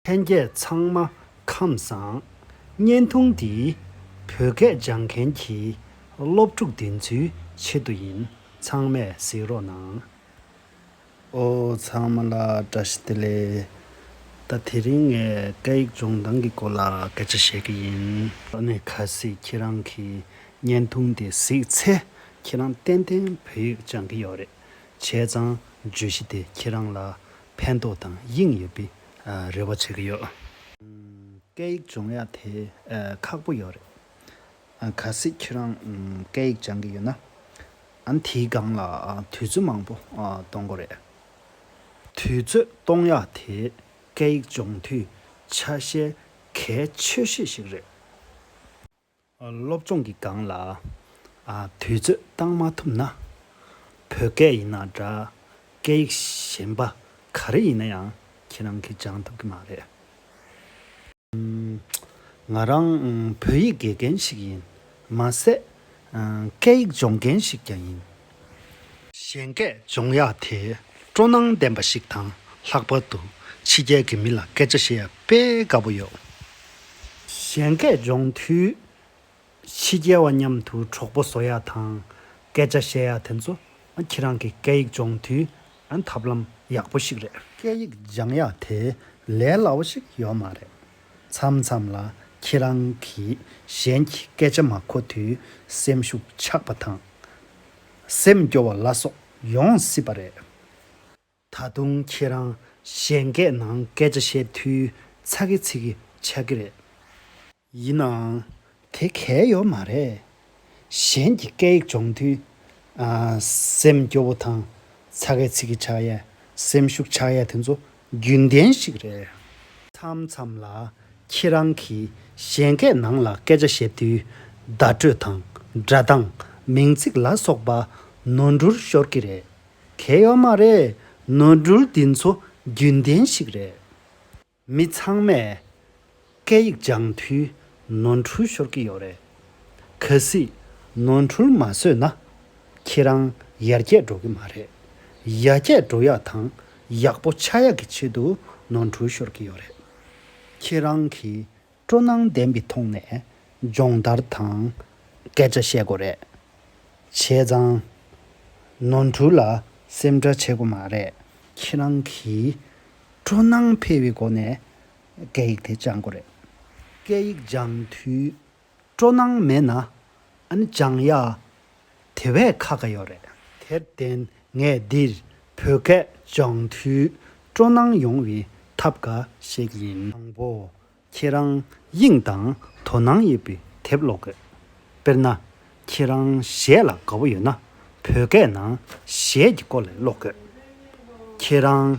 ལྷན་རྒྱས་ཚང་མ་ཁམས་བཟང། བརྙན་ཐུང་འདི། བོད་སྐད་སྦྱང་མཁན་གྱི། སློབ་ཕྲུག་བདེན་རྫུན་ཆེད་དུ་ཡིན། ཚང་མས་གཟིགས་རོགས་གནང། ཨོ་ཚང་མ་ལ་བཀྲ་ཤིས་བདེ་ལེགས། ད་དེ་རིང་ངས་སྐད་ཡིག་སྦྱོང་སྟངས་ཀྱི་སྐོར་ལ་སྐད་ཆ་བཤད་ཀྱི་ཡིན། ད་ནས་ཁ་སིག་ཁྱེད་རང་གི་བརྙན་ཐུང་དེ་གཟིགས་ཚེ་ཁྱེད་རང་ཏན་ཏན་བོད་ཡིག་སྦྱང་གི་ཡོད་རེད། བྱས་ཙང་བརྗོད་གཞི་དེ་ཁྱེད་རང་ལ་ཕན་ཐོགས་དང་དབྱིངས་ཡོད་པས་རེ་བ་བྱེད་ཀྱི་ཡོད། སྐད་ཡིག་སྦྱོང་ཡག་དེ་ཁག་པོ་ཡོད་རེད། གལ་སྲིད་ཁྱེད་རང་སྐད་ཡིག་སྦྱང་གི་ཡོད་ན། ཨང་དེའི་སྒང་ལ་དུས་ཚོད་མང་པོ་གཏོང་དགོས་རེད། དུས་ཚོད་གཏོང་ཡག་དེ་སྐད་ཡིག་སྦྱོང་དུས་ཆ་ཤས་གལ་ཆེ་ཤོས་ཤིག་རེད། སློབ་སྦྱོང་གི་སྒང་ལ་དུས་ཚོད་བཏང་མ་ཐུབ་ན། བོད་སྐད་ཡིན་ན་འདྲ། སྐད་ཡིག་གཞན་པ་ག་རེ་ཡིན་ན་ཡང་ཁྱེད་རང་གིས་སྦྱང་ཐུབ་ཀྱི་མ་རེད། ང་རང་བོད་ཡིག་དགེ་རྒན་ཞིག་ཡིན། མ་ཟད་སྐད་ཡིག་སྦྱོང་མཁན་ཞིག་ཀྱང་ཡིན། གཞན་སྐད་སྦྱོང་ཡག་དེ་སྤྲོ་སྣང་ལྡན་པ་ཞིག་དང་ལྷག་པར་དུ་ཕྱི་རྒྱལ་གྱི་མི་ལ་སྐད་ཆ་བཤད་དཔེ་དགའ་པོ་ཡོད། གཞན་སྐད་སྦྱོང་དུས་ཕྱི་རྒྱལ་བ་མཉམ་དུ་གྲོགས་པོ་བཟོ་ཡ་དང་སྐད་ཆ་བཤད་ཡ་དེ་ཚོ་ཁྱེད་རང་གི་སྐད་ཡིག་སྦྱོང་དུས་ཐབས་ལམ་ཡག་པོ་ཞིག་རེད། སྐད་ཡིག་སྦྱང་ཡག་དེ་ལས་སླ་བོ་ཞིག་ཡོད་མ་རེད། མཚམས་མཚམས་ལ་ཁྱེད་རང་གིས་གཞན་གྱི་སྐད་ཆ་མ་གོ་དུས་སེམས་ཤུགས་ཆག་པ་དང། སེམས་སྐྱོ་བ་ལ་སོགས་ཡོང་སྲིད་པ་རེད། ད་དུང་ཁྱེད་རང་གཞན་སྐད་ནང་སྐད་ཆ་བཤད་དུས་ཚ་གི་ཚིག་གི་ཆགས་ཀྱི་རེད། ཡིན་ནའང། དེ་གལ་ཡོད་མ་རེད། གཞན་གྱི་སྐད་ཡིག་སྦྱོང་དུས། སེམས་སྐྱོ་བོ་དང་ཚ་གེ་ཚིག་གི་ཕྱག་ཡས་སེམས་ཤུགས་ཆག་ཡས་དེ་ཚོ་རྒྱུན་ལྡན་ཞིག་རེད། མཚམས་མཚམས་ལ་ཁྱེད་རང་གིས་གཞན་སྐད་ནང་ལ་སྐད་ཆ་བཤད་དུས། བརྡ་སྤྲོད་དང་སྒྲ་གདངས་མིང་ཚིག་ལ་སོགས་པ་ནོར་འགྲུར་ཤོར་གི་རེད། གལ་ཡོད་མ་རེད། ནོར་འགྲུལ་འདི་ཚོ་རྒྱུན་ལྡན་ཞིག་རེད། མི་ཚང་མས་སྐད་ཡིག་སྦྱང་དུས་ནོར་འཁྲུལ་ཤོར་གྱི་ཡོད་རེད། གལ་སྲིད་ནོར་འཁྲུལ་མ་བཟོས་ན་ཁྱེད་རང་ཡར་རྒྱས་འགྲོ་གི་མ་རེད། ཡར་རྒྱས་འགྲོ་ཡག་དང་ཡག་པོ་ཆགས་ཡག་གི་ཆེད་དུ་ནོར་འཁྲུལ་ཤོར་གྱི་ཡོད་རེད། ཁྱེད་རང་གིས་སྤྲོ་སྣང་ལྡན་པའི་ཐོག་ནས་སྦྱོང་བརྡར་དང་སྐད་ཆ་བཤད་དགོས་རེད། བྱས་ཙང། ནོར་འཁྲུལ་ལ་སེམས་ཁྲལ་བྱེད་དགོས་མ་རེད། ཁྱེད་རང་གིས་སྤྲོ་སྣང་འཕེལ་བའི་སྒོ་ནས་སྐད་ཡིག་དེ་སྦྱང་དགོས་རེད། སྐད་ཡིག་སྦྱང་དུས་སྤྲོ་སྣང་མེད་ན་ཨ་ནི་སྦྱང་ཡག་དེ་བས་ཁག་འགའ་ཡོད་རེད། དེར་བརྟེན་ངས་འདིར་བོད་སྐད་སྦྱང་དུས་སྤྲོ་སྣང་ཡོང་བའི་ཐབས་འགའ་ཞིག་ཡིན། དང་པོ། ཁྱེད་རང་དབྱིངས་དང་དོ་སྣང་ཡོད་པའི་དེབ་ཀློག་དགོས། དཔེར་ན། ཁྱེད་རང་གཞས་ལ་དགའ་བོ་ཡོད་ན་བོད་སྐད་ནང་གཞས་ཀྱི་སྐོར་ལས་ཀློག་དགོས། ཁྱེད་རང་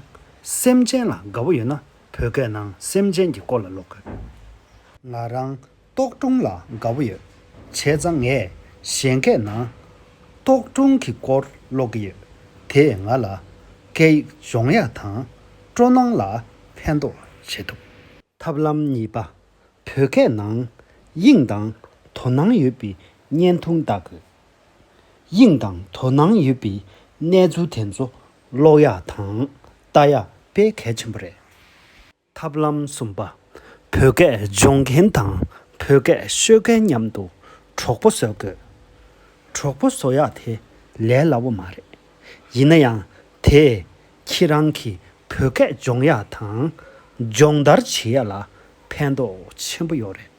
སེམས་ཅན་ལ་དགའ་བོ་ཡོད་ན་བོད་སྐད་ནང་སེམས་ཅན་གྱི་སྐོར་ལ་ཀློག་དགོས། ང་རང་ཏོག་སྒྲུང་ལ་དགའ་བོ་ཡོད། བྱས་ཙང་ངས་གཞན་སྐད་ནང། ཏོག་སྒྲུང་གི་སྐོར་ཀློག་གི་ཡོད། དེས་ང་ལ། སྐད་ཡིག་སྦྱོང་ཡ་དང། སྤྲོ་སྣང་ལ་ཕན་ཐོག་བྱེད་ཐུབ། ཐབས་ལམ་གཉིས་པ། བོད་སྐད་ནང། དབྱིངས་དང། དོ་སྣང་ཡོད་པའི་བརྙན་ཐུང་བལྟ་དགོས། དབྱིངས་དང་དོ་སྣང་ཡོད་པའི་གནས་ཚུལ་དེ་ཚོ་ཀློག་ཡ་དང། བལྟ་ཡ་དཔེ་གལ་ཆེན་པོ་རེད། ཐབས་ལམ་གསུམ་པ། བོད་སྐད་སྦྱོང་མཁན་དང་བོད་སྐད་ཤོད་མཁན་མཉམ་དུ་གྲོགས་པོ་བཟོ་དགོས། གྲོགས་པོ་བཟོ་ཡག་དེ་ལས་སླ་བོ་མ་རེད། ཡིན་ན་ཡང་དེས་ཁྱེད་རང་གི་བོད་སྐད་སྦྱོང་ཡག་དང་སྦྱོང་བརྡར་བྱེད་ཡག་ལ་ཕན་ཐོགས་ཆེན་པོ་ཡོད་རེད།